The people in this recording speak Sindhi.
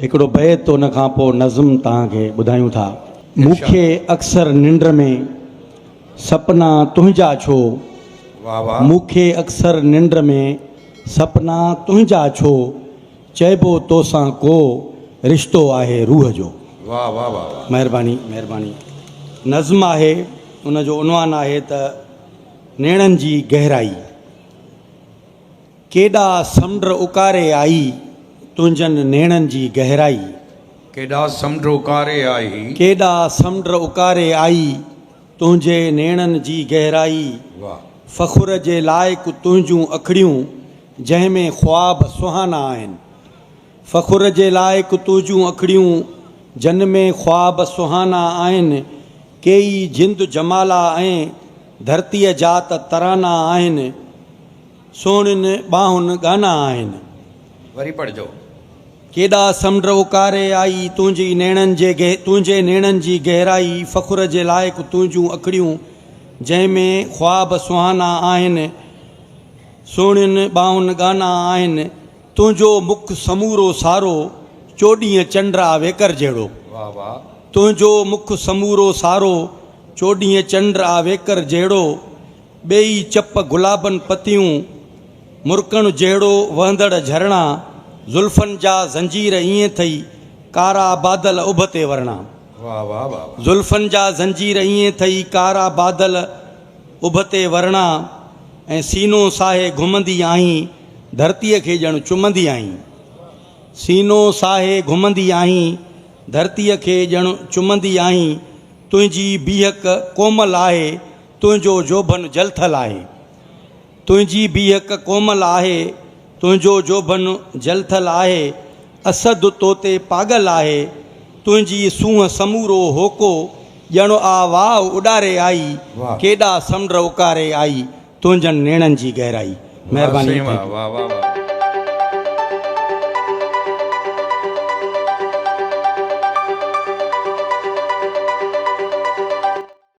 هڪڙو بيت ان کان پوء نظم توهان کي ٻڌايون ٿا. مون کي اڪثر ننڊ ۾ سپنا تنهنجا ڇو. واھ واھ. مون کي اڪثر ننڊ ۾ سپنا تنهنجا ڇو چئبو توسان ڪو رشتو آهي روح جو. واھ واھ واھ واھ. مهرباني مهرباني نظم آهي ان جو عنوان آهي ته نيڻن جي گهرائي. ڪيڏا سمنڊ اڪاري آئي، تنهنجن نيڻن جي گهرائي. ڪيڏا سمنڊ اڪاري آئي. ڪيڏا سمنڊ اڪاري آئي، تنهنجي نيڻن جي گهرائي. واهه. فخر جي لائق تنهنجون اکڙيون، جنهن ۾ خواب سهانا آهن. فخر جي لائق تنهنجون اکڙيون، جن ۾ خواب سهانا آهن، ڪيئي جند جمالا ۽ ڌرتيء جا ته ترانا آهن، سهڻين ٻانهن ڳانا آهن. وري پڙهجو. ڪيڏا سمنڊ اوڪاري آئي تنهنجي نيڻن جي تنهنجي نيڻن جي گهرائي فخر جي لائق تنهنجون اکڙيون، جنهن ۾ خواب سهانا آهن، سهڻين ٻانهن ڳانا آهن. تنهنجو مک سمورو سارو، چوڏهين چنڊ آ ويڪر جهڙو. تنهنجو مک سمورو سارو، چوڏهين چنڊ آ ويڪر جهڙو. ٻيئي چپ گلابن پتيون، مرڪڻ جهڙو وهندڙ جهرڻا. زلفن جا زنجير ائين ٿئي، ڪارا بادل اڀ تي ورڻا. زلفن جا زنجير ائين ٿئي، ڪارا بادل. ابتي ورڻا ۽ سينو ساهي گهمندي آهين ڌرتيء کي ڄڻ چمندي آهين سينو ساهي گهمندي آهين ڌرتيء کي ڄڻ چمندي آهين تنهنجي بيهڪ ڪومل آهي تنهنجو جوڀن جلٿل آهي. تنهنجي بيهڪ ڪومل آهي، تنهنجو جوڀن جلٿل آهي، اسد تو تي پاڳل آهي، تنهنجي سونهن سمورو هوڪو ڄڻ آ واء اڏاري آئي، ڪيڏا سمنڊ اڪاري آئي، تنهنجن نيڻن جي گهرائي. مهرباني ٿيندي. واه واه واه واه.